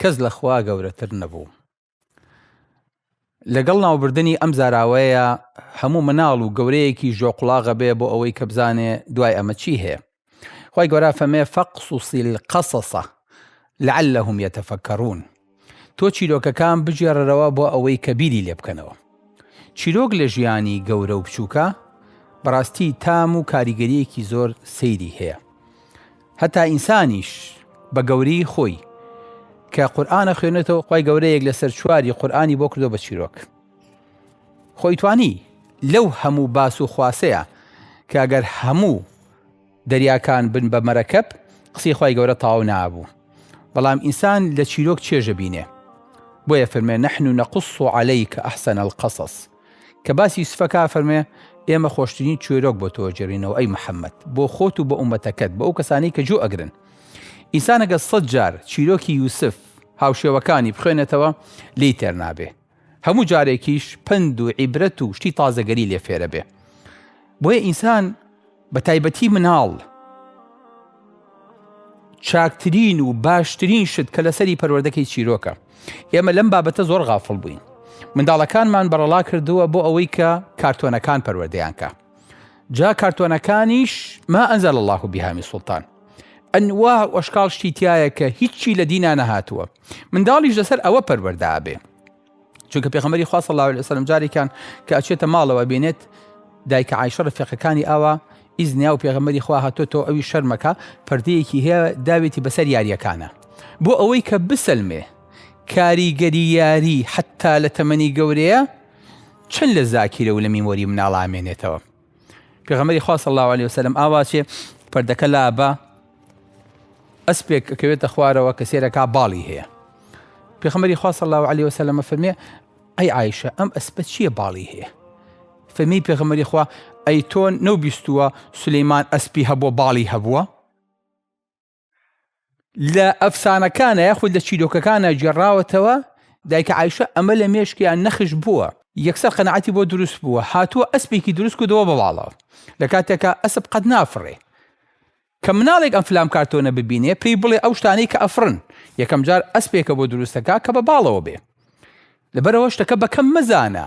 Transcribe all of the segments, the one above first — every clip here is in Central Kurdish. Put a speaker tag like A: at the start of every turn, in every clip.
A: کەس لە خوا گەورەتر نەبوو. لەگەڵ ناوبردنی ئەم زاراوەیە هەموو مناڵ و گەورەیەکی ژۆقڵاغە بێ بۆ ئەوەی کە بزانێ دوای ئەمە چی هەیە خی گەۆرا فەمێ فەقسوسیل قەسەسە لەعلهم یتەفەکەڕون تۆ چیرۆکەکان بگێڕەرەوە بۆ ئەوەی کە بیری لێ بکەنەوە چیرۆک لە ژیانی گەورە و بچووکە بەڕاستی تام و کاریگەریەکی زۆر سەیری هەیە هەتا ئینسانیش بە گەورەی خۆی کە قورئان ئەخوێنێتەوە خوای گەورە یەک لەسەر چواری قورئانی بۆ کردووە بە چیرۆک خۆی توانی لەو هەموو باس و خواسەیە کە گەر هەموو دەریاکان بن بە مەرەکەب قسەی خوای گەورە تاو نابوو بەڵام ئینسان لە چیرۆک چێژە بینێ بۆیە فەرمێ نحن نقص عليك احسن القصص کە باسی یوسف ئەکا ئەفەرموێ، ئێمە خۆشترین چوێرۆک بۆ تۆ ئەگێڕینەوە ئەی محەممەد، بۆ خۆت و بۆ ئوممەتەکەت، بۆ ئەو کەسانەی کە جوو ئەگرن. ئینسان ئەگەر سەد جار چیرۆکی یوسف، هاوشێوەکانی، بخوێنێتەوە لێی تێر نابێ. هەموو جارێکیش پەند و عیبرەت و شتی تازەگەری لێ فێرەبێ. بۆیە ئینسان. بە تایبەتی مناڵ چاکترین و باشترین شت کە لەسەری پەروەردەکەی چیرۆکە ئێمە لەم بابەتە زۆر غافڵ بووین منداڵەکانمان بەڕەڵا کردووە بۆ ئەوەی کە کارتۆنەکان پەروەردەیانکە جا کارتۆنەکانیش ما ئەنزەل الله و بیهامی سوڵتان ئەنوا ئۆشکال شتی تایە کە هیچی لە دینا نەهاتووە منداڵیش لەسەر ئەوە پەروەردابێ چونکە پێغەمبەری خوا صلی الله علیه وسلم جارێکیان کە ئەچێتە ماڵەوە بینێت دایکە عیشە ڕفێقەکانی ئاوا ئیز نیا و پێغەمەری خوا هاتۆتەوە ئەوی شەرمەکە پردەیەکی هەیە داوێتی بەسەر یاریەکانە بۆ ئەوەی کە بسەلمێ کاریگەری یاری حتا لە تەمەنی گەورەیە چەند لە زاکیرە و لە میمۆری مناڵامێنێتەوە پێغەمبەری خوا صلی الله علیه وسلم ئاواچێ پردەکە لابە ئەسپێک کەوێتە خوارەوە کە سێرەکە باڵی هەیە پێخەمەری خوا صلی الله علیه وسلم فەرمێ ئەی عیشە ئەم ئەسپە چییە باڵی هەیە فەرمی پێغەمەری خوا ئەی تۆن نەو بیستووە سلەیمان ئەسپی هەبووە باڵی هەبووە لە ئەفسانەکانە یاخود لە چیرۆکەکانە گێڕاوەتەوە دایکە عیشە ئەمە لە مێشکیان نەخش بووە یەکسەر قەنەعەتی بۆ دروست بووە هاتووە ئەسپێکی دروست کردەوە بەواڵەوە لە کاتێکا ئەسب قەت نافڕێ کە مناڵێک ئەم فلام کارتۆنە ببینێ پێی بڵێ ئەو شتانەی کە ئەفرن یەکەم جار ئەسپێکە بۆ دروستەکە کە بە باڵەوە بێ لەبەرەوە شتەکە بەکەم مەزانە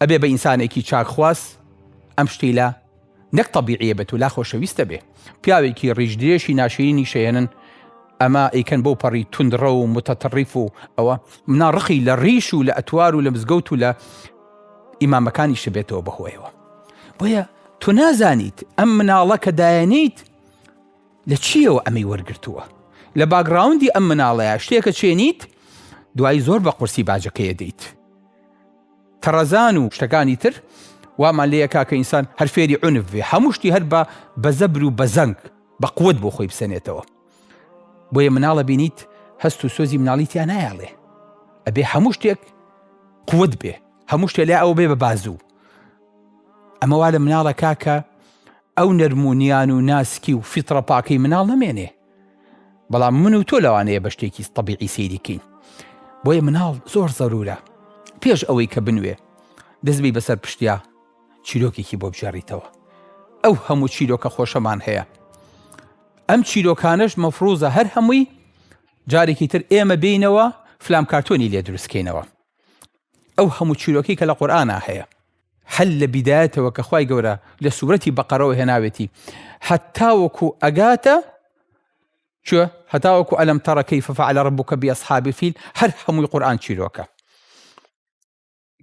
A: ئەبێ بە ئینسانێکی چاک خواز ئەم شتیلە نەک تەبیعیە بێت و لا خۆشەویستە بێ پیاوێکی ڕیش درێژی ناشرینی شەیەنن ئەمە ئەیکەن بەو پەڕی توندڕە و متەتەڕیف و ئەوە منا ڕقی لە ڕیش و لە ئەتوار و لە مزگەوت و لە ئیمامەکانی شبێتەوە بەهۆیەوە بۆیە تۆ نازانیت ئەم مناڵە کە دایەنیت لە چیەوە ئەمەی وەرگتووە لە باگراوندی ئەم مناڵەیە شتێکە چێنیت دوای زۆر بە قورسی باجەکەیە دەیت تەڕەزان و شتەکانی تر وامان لێ ئەکا کە ئینسان هەر فێری عونف بێ هەموو شتی هەر بە بە زەبر و بە زەنگ بە قوت بۆ خۆی بسەنێتەوە بۆیە مناڵە بینیت هەست و سۆزی مناڵی تیا نایاڵێ ئەبێ هەموو شتێک قوت بێ هەموو شتێ لای ئەو بێ بە بازوو ئەمەوا لە مناڵە کاکە ئەو نەرمونیان و ناسکی و فیتڕە پاکەی مناڵ نەمێنێ بەڵام من و تۆ لەوانەیە بە شتێکی تەبیعی سەیری کەین بۆیە مناڵ زۆر زەرورە پێش ئەوەی کە بنوێ دەستبی بەسەر پشتیا چیرۆکێکی بۆ بژێڕیتەوە ئەو هەموو چیرۆکە خۆشەمان هەیە ئەم چیرۆکانش مەفروزە هەر هەمووی جارێکی تر ئێمە بینەوە فلام کارتۆنی لێ دروستکەینەوە ئەو هەموو چیرۆکی کە لە قورآە هەیە هەر لە بیدایەتەوە کە خوای گەورە لە سورەتی بەقەرەوە هێناوێتی هەتاوەکو ئەگاتە چۆ هەتاوەکو ئەلم تەڕە کەیف فعل ربک بأصحاب الفیل هەر هەمووی قورئان چیرۆکە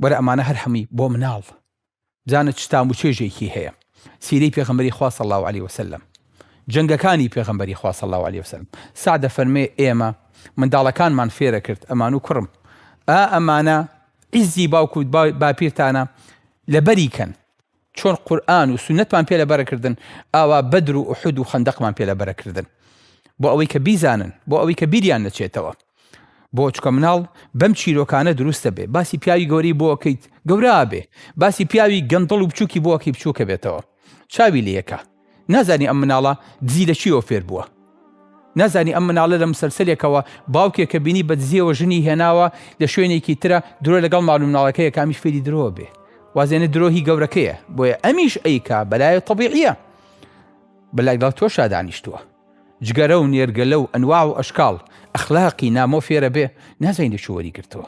A: وەرە ئەمانە هەر هەمووی بۆ مناڵ بزانە چ تام و چێژێکی هەیە سیرەی پێغەمبەری خوا صلی الله علیه وسلم جەنگەکانی پێغەمبەری خوا صلی الله علیه وسلم سعدە فەرمێ ئێمە منداڵەکانمان فێرە کرد ئەمان و کوڕم ئا ئەمانە عیزی باوک و باپیرتانە لەبەری کەن چۆن قورئان و سونەتمان پێ لەبەر کردن ئاوا بەدر و ئوحود و خەندەقمان پێ لەبەر کردن بۆ ئەوەی کە بیزانن بۆ ئەوەی کە بیریان نەچێتەوە بۆ چکە مناڵ بەم چیرۆکانە دروست دەبێ باسی پیاوی گەورەی بۆکەیت گەورا بێ باسی پیاوی گەندڵ و بچووکی بۆکی بچووکە بێتەوە چاوی لە یەکە نازانی ئەم مناڵە دزی لە چیەوە فێر بووە؟ نازانی ئەم مناڵە لە مسەلسەلێکەوە باوکێک کە بینی بە دزیەوە ژنی هێناوە لە شوێنێکی ترە درۆ لەگەڵ ماڵ و مناڵەکەیە کە ئەمیش فێری درۆ بێ وازێنە درۆ هی گەورەکەیە بۆیە ئەمیش ئەیکا بەلایە طبیعیە بەلایگەڵ تۆ شادانیشتووە جگەرە و نێرگەلە و ئەنواع و ئەشکاڵ ئەخلاقی نامۆ فێرە بێ نازانی لە چۆ وەری گرتووە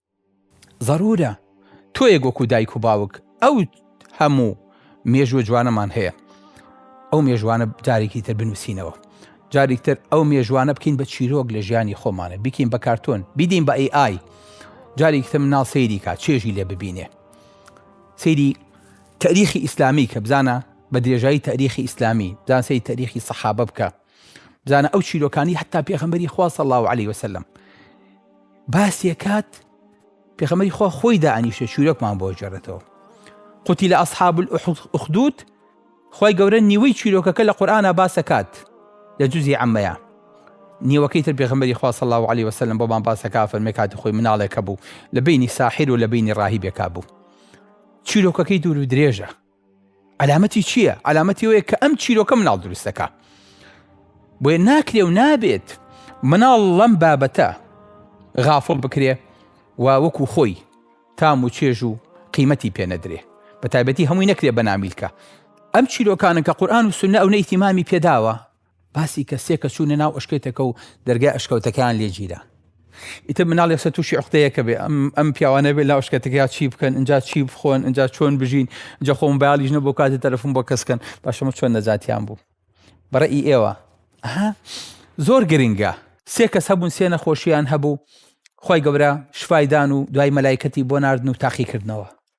A: زەرورە تۆیەک وەکو دایک و باوک ئەو هەموو مێژووە جوانەمان هەیە ئەو مێژوانە جارێکی تر بنووسینەوە جارێکتر ئەو مێژوانە بکەین بە چیرۆک لە ژیانی خۆمانە بیکەین بە کارتۆن بیدین بە ئەی ئای جارێکتر مناڵ سەیری کا چێژی لێ ببینێ سەیری تاریخی ئیسلامی کە بزانە بە درێژایی تاریخی ئیسلامی دانسی تاریخی سەحابە بکە بزانە ئەو چیرۆکانی حتا پێخەمبەری خوا صلی الله علیه وسلم باسێکات پێخەمەری خوا خۆی دانیشە چیرۆکمان بۆ جێڕێتەوە قوتی لە ئەسحاب ئوخدود خی گەورە نیوەی چیرۆکەکە لە قورآە باسەکات لە جوزی ئەمەیە نیوەکەی تر پێغمبەری خوا صلی الله علیه وسلم بۆمان باسەکە فەرمی کاتی خۆی مناڵێکە بوو لە بینی ساحیر و لە بینی ڕاهی بێکا بوو چیرۆکەکەی دوور و درێژە عەلامەتی چییە؟ عەلامەتی وەیە کە ئەم چیرۆکە مناڵ دروستەکە بۆیە ناکرێ و نابێت مناڵ لەم بابەتە غافڵ بکرێ و وەکو خۆی تام و چێژ و قیمەتی پێنەدرێ بە تایبەتی هەمووی نەکرێ بە نامیلکە ئەم چیرۆکانە کە قورآان و سنە ئەو نەیتیمامی پێداوە باسی کرد سێ کەس چوونە ناو ئەشکەوتەکە و دەرگای ئەشکەوتەکەیان لێ گیران ئیتر مناڵ یەسە تووشی عقدەیەکە بێ ئەم ئەم پیاوانە بێ لاو شکەتەکەیا چی بکەن اینجا چی بخۆن اینجا چۆن بژین جە خۆم بایالیش نە بۆ کاتی تەرەفم بۆ کەسکەن باشەمە چۆن نەجاتیان بوو بەڕێی ئێوە ئەها زۆر گرنگە سێ کەس هەبوون سێ نەخۆشیان هەبوو خی گەورە شفایدان و دوای مەلایکەتی بۆ نردن و تاقیکردنەوە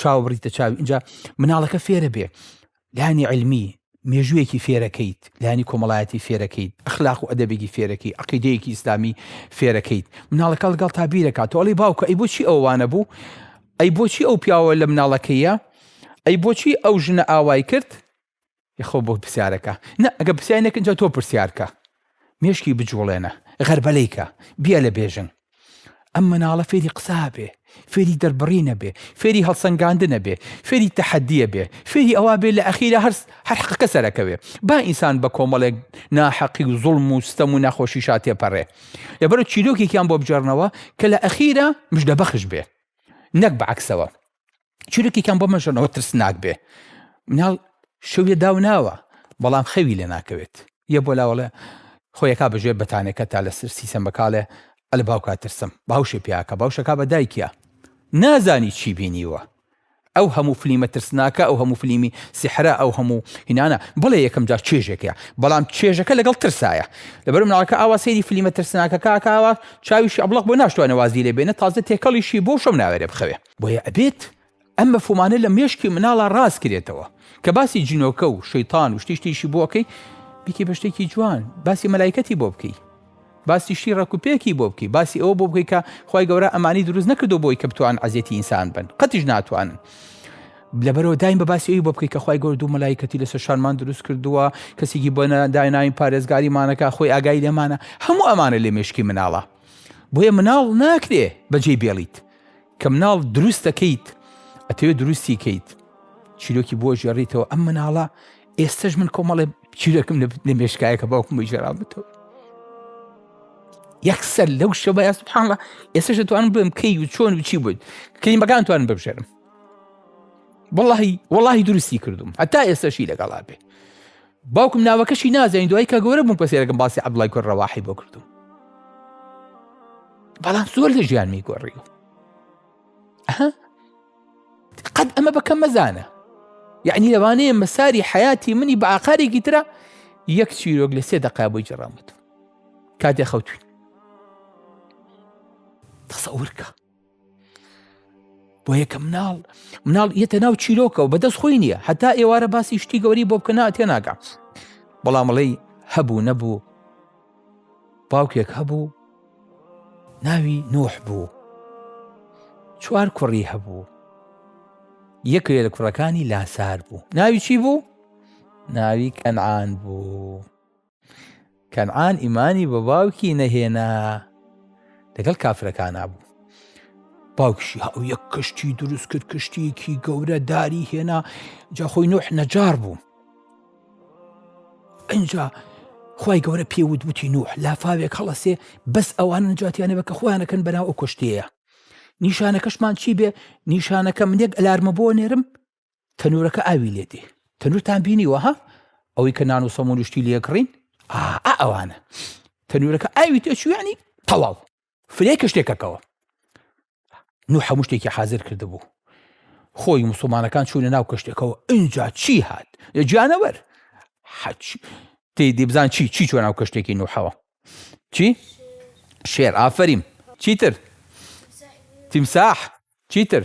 A: چاو بڕیتە چاوی ئینجا مناڵەکە فێرە بێ لانی علمی مێژوویەکی فێرەکەیت لانی کۆمەڵایەتی فێرەکەیت ئەخلاق و ئەدەبێکی فێرەکەی عقیدەیەکی ئیسلامی فێرەکەیت مناڵەکە لەگەڵ تا بیرەکە تۆڵی باوکە ئەی بۆچی ئەوانە بوو ئەی بۆچی ئەو پیاوە لە مناڵەکەیە ئەی بۆچی ئەو ژنە ئاوای کرد یەخوا بۆ پرسیارەکە نا ئەگەر پرسیاری نەکرد جا تۆ پرسیار کە مێشکی بجوڵێنە غەربەلەی کە بیا لە بێژن ئەم مناڵە فێری قسابێ فێری دەربڕینە بێ فێری هەڵسەنگاندنە بێ فێری تەحەدیە بێ فێری ئەوا بێ لە ئەخیرە هەرس هەر حەقەکە سەرەکەوێ با ئینسان بە کۆمەڵێک ناحەقی و زوڵم و ستەم و ناخۆشی شاتێ پەڕێ لەبەر چیرۆکێکیان بۆ بجێڕنەوە کە لە ئەخیرە مژدەبەخش بێ نەک بەعکسەوە چیرۆکێکیان بۆ مەژەنەوە ترسناک بێ مناڵ شەویە داو ناوە بەڵام خەوی لێ ناکەوێت یە بۆ لاوەڵێ خۆیەکا بەژێر بەتانەکە تا لەسەر سیسە مەکاڵێ ئەل باوکا ترسم باوشێ پیاکە باوشەکە بە دایکە نازانی چی بینیوە ئەو هەموو فلیمە ترسناکە ئەو هەموو فلیمی سیحرا ئەو هەموو هینانە بڵێ یەکەم جار چێژێکە بەڵام چێژەکە لەگەڵ ترسایە لەبەر مناڵەکە ئاوا سەیری فلیمە ترسناکە کاکاوە چاویشی ئەبڵق بۆ ناشتوانە وازی لێ بێنە تازە تێکەڵیشی بۆ شەو ناوێرێ بخەوێ بۆیە ئەبێت ئەم مەفهومانە لە مێشکی مناڵا ڕاست کرێتەوە کە باسی جنۆکە و شەیتان و شتیشتیشی بۆ ئەەکەی بیتی بە شتێکی جوان باسی مەلایکەتی بۆ بکەی باسی شتی ڕکوپێکی بۆ بکەی باسی ئەوە بۆ بکەی کە خی گەورە ئەمانی دروست نەکردو بۆی کە بتوان عزیێتی ئینسان بن قەتیش ناتوانن لەبەرەوە دایم بە باسی ئەوی بۆ بکەی کە خی گەور دوو مەلایکەتی لەسەر شانمان دروست کردووە کەسێکی بۆ دایناین پارێزگاریمانەکە خۆی ئاگای لێمانە هەموو ئەمانە لێ مشکی مناڵە بۆیە مناڵ ناکرێ بەجێ بێڵیت کە مناڵ دروست دەکەیت ئەتەوێت دروستی کەیت چیرۆکی بۆ ژێڕیتەوە ئەم مناڵە ئێستش من کۆمەڵێ چیرەکەم لە مێشکایەکە باوکم بۆی ژێراوتەوە یەکسەر لەو شەبە یا سبحانڵە ئێستا دەتوان بم کەی و چۆن و چی بوویت کلیمەکان توان ببژێرم وڵی وڵی دروستی کردوم هەتا ئێستاشی لەگەڵا بێ باوکم ناوەکەشی نازانی دوای کە گەورە بووم پەسێرەکەم باسی عەبدوڵای کوڕ ڕەواحی بۆ کردووم بەڵام زۆر لە ژیانمی گۆڕی و قەت ئەمە بەکەم مەزانە یعنی لەوانەیە مەساری حیاتی منی بە ئاقارێکی ترە یەک چیرۆک لە سێ دقا بۆی جڕامەت کاتێ خەوتوین قسە ورکە بۆ یەکە مناڵ مناڵ یەتە ناو چیرۆکەەوە بەدەست خۆی نییە هەتا ئێوارە باسی شتی گەوری بۆ بکەنا تێ ناگەم بەڵامەڵی هەبوو نەبوو باوکێک هەبوو ناوی نۆح بوو چوار کوڕی هەبوو یەکێ لە کوڕەکانی لاسار بوو ناوی چی بوو ناوی کەنعان بوو کەنعان ئیمانی بە باوکی نەهێنا لەگەڵ کافرەکانا بوو باوکشی هاو یەک کەشتی دروست کرد کەشتێکی گەورە داری هێنا جا خۆی نوح نەجار بوو ئەجا خی گەورە پێوت وتی نوح لافاوێک هەڵەسێ بەس ئەوان نجاتیانە بە کە خۆیانەکەن بەناو ئەو کەشتەیە نیشانەکەشمان چی بێ نیشانەکە منێک ئەلارمە بۆ نێرم تەنورەکە ئاوی لێ دێ تەنورتان بینیوە ها ئەوەی کە نان و سەمون و شتی لێکڕین ئەوانە تەنورەکە ئاوی تێچویانی تەواو فرێ کە شتێکەکەەوە نو هەموو شتێکی حاضر کرد بوو خۆی مسلمانەکان چوونە ناو کەشتەکەەوە ئینجا چی هات لە جانەوەەر حەچ تی دیبزان چی چی چۆن ناو کەشتێکی نوحەوە چی شێر ئافریم چیتر تیمساح چیتر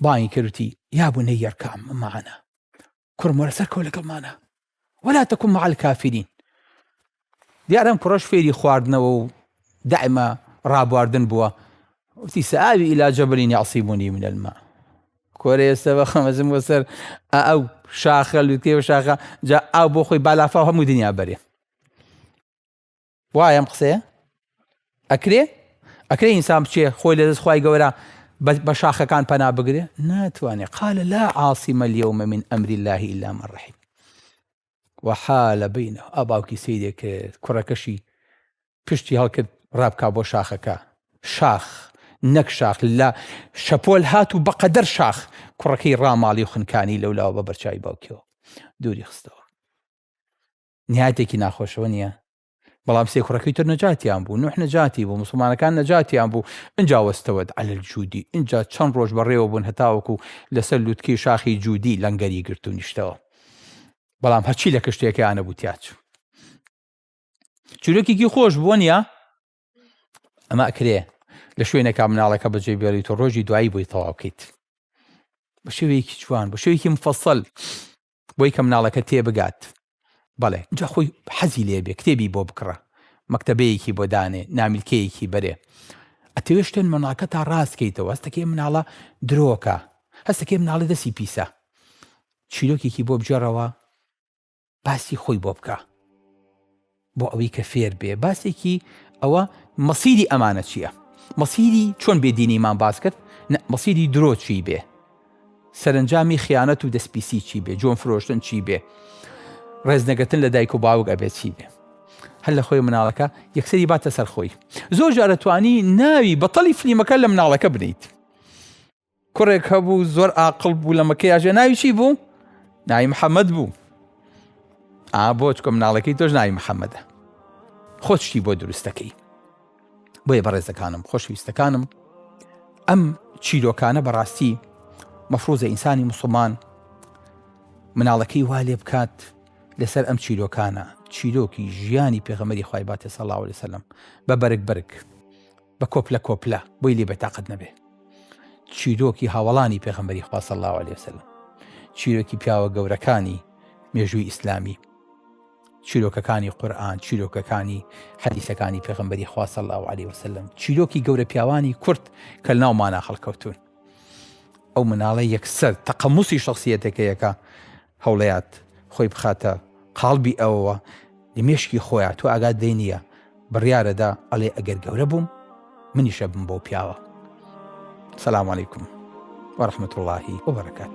A: بانگی کرد وتی یا بنی ارکع معنا کوڕم وەرە سەرکەوە لەگەڵمانە ولا تكن مع الكافرين دیارم کوڕەش فێری خواردنەوە و دائما ڕابواردن بووە وتی سآوی إلى جبل يعصمني من الماء کۆرە ئێستا بە خەمەزم بۆ سەر ئەو شاخە لوتێ و شاخە جا ئاو بۆ خۆی بالافا هەموو دنیا بەرێ وایە ئەم قسەیە ئەکرێ ئەکرێ ئینسان بچێ خۆی لە دەست خی گەورە بە شاخەکان پەنا بگرێ ناتوانێت قال لا عاصمە لەومە من ئەمری اللهی ئیلا من ڕحیم وەحالە بینە ئا باوکی سیرێک کرد کوڕەکەشی پشتی هەڵکرد ڕابکا بۆ شاخەکە شاخ نەک شاخ لە شەپۆل هات و بەقەدەر شاخ کوڕەکەی ڕاماڵی و خنکانی لەولاوە بە بەرچوی باوکیەوە دووری خستەوە نیاتێکی ناخۆشەوە نییە بەڵام سێ کوڕەکەی تر نەجاتیان بوو نوح نەجاتی بوو مسلمانەکان نەجاتیان بوو ئەجا وەستەوەت عەل جوودی ئینجا چەند ڕۆژ بەڕێوە بوون هەتاوەکو لەسەر لوتکی شاخی جوودی لەنگەری گرت و نیشتەوە بەڵام هەچی لە کشتەکەیانە بوو تیاچ چورەکێکی خۆش بوون یا ئەمە ئەکرێ لە شوێنەکە مناڵەکە بەجێ بێڵیت و ڕۆژی دوایی بۆی تەواوکەیت بە شێوەیەکی جوان بە شێوەیەکی مفەسەل بۆی کە مناڵەکە تێ بگات بەڵێ جا خۆی حەزی لێ بێ کتێبی بۆ بکڕە مەکتەبەیەکی بۆ دانێ نامیلکەیەکی بەرێ ئەتەوێ شتێن مناڵکە تا ڕاست کەیتەوە هەستەکەی مناڵە درۆکە هەستەکەی مناڵی دەسی پیسە چیرۆکێکی بۆ بجێڕەوە باسی خۆی بۆ بکە بۆ ئەوەی کە فێر بێ باسێکی ئەوە مەسیری ئەمانە چییە مەسیری چۆن بێدینیمان باس کرد مەسیری درۆ چی بێ سەرنجامی خیانەت و دەستپیسی چی بێ جۆن فرۆشتن چی بێ ڕێزنەگەتن لە دایک و باوک ئەبێ چی بێ هەر لە خۆی مناڵەکە یەکسری باتە سەرخۆی زۆر جارەتوانی ناوی بەتەڵی فلیمەکە لە مناڵەکە بنیت کوڕێک هەبوو زۆر ئاقل بوو لە مەکەی ئاژێ ناوی چی بوو ناوی محەممەد بوو ئا بۆ چکە مناڵەکەی تۆش ناوی محەممەدە خۆشتی بۆ دروستەکەی بۆیە بەڕێزەکانم خۆشویستەکانم ئەم چیرۆکانە بەڕاستی مەفروزە ئینسانی مسلمان مناڵەکەی وا لێ بکات لەسەر ئەم چیرۆکانە چیرۆکی ژیانی پێغەمەری خی باتێ سەڵاو لەسەلم بە بەرگ بەرگ بە کۆپلە کۆپلە بۆی لێ بەتاقەت نەبێ چیرۆکی هاوڵانی پێغمبەری خوا صلی الله عليه وسلم چیرۆکی پیاوە گەورەکانی مێژووی ئیسلامی چیرۆکەکانی قورآن چیرۆکەکانی حەدیسەکانی پێغمبەری خوا صلی الله عليه وسلم چیرۆکی گەورە پیاوانی کورد کە ناومانە خەڵکەوتون ئەو مناڵە یەکسەر تەقەموسی شخصیەتەکەیەکە هەوڵیات خۆی بخاتە قاڵبی ئەوەوە لە مێشکی خۆیا تۆ ئاگات لێ نییە بڕیارەدا ئەڵێ ئەگەر گەورە بووم منیش ئەبم بەو پیاوە سلام علیکم وەرحمەت وڵاهی وبەرەکات.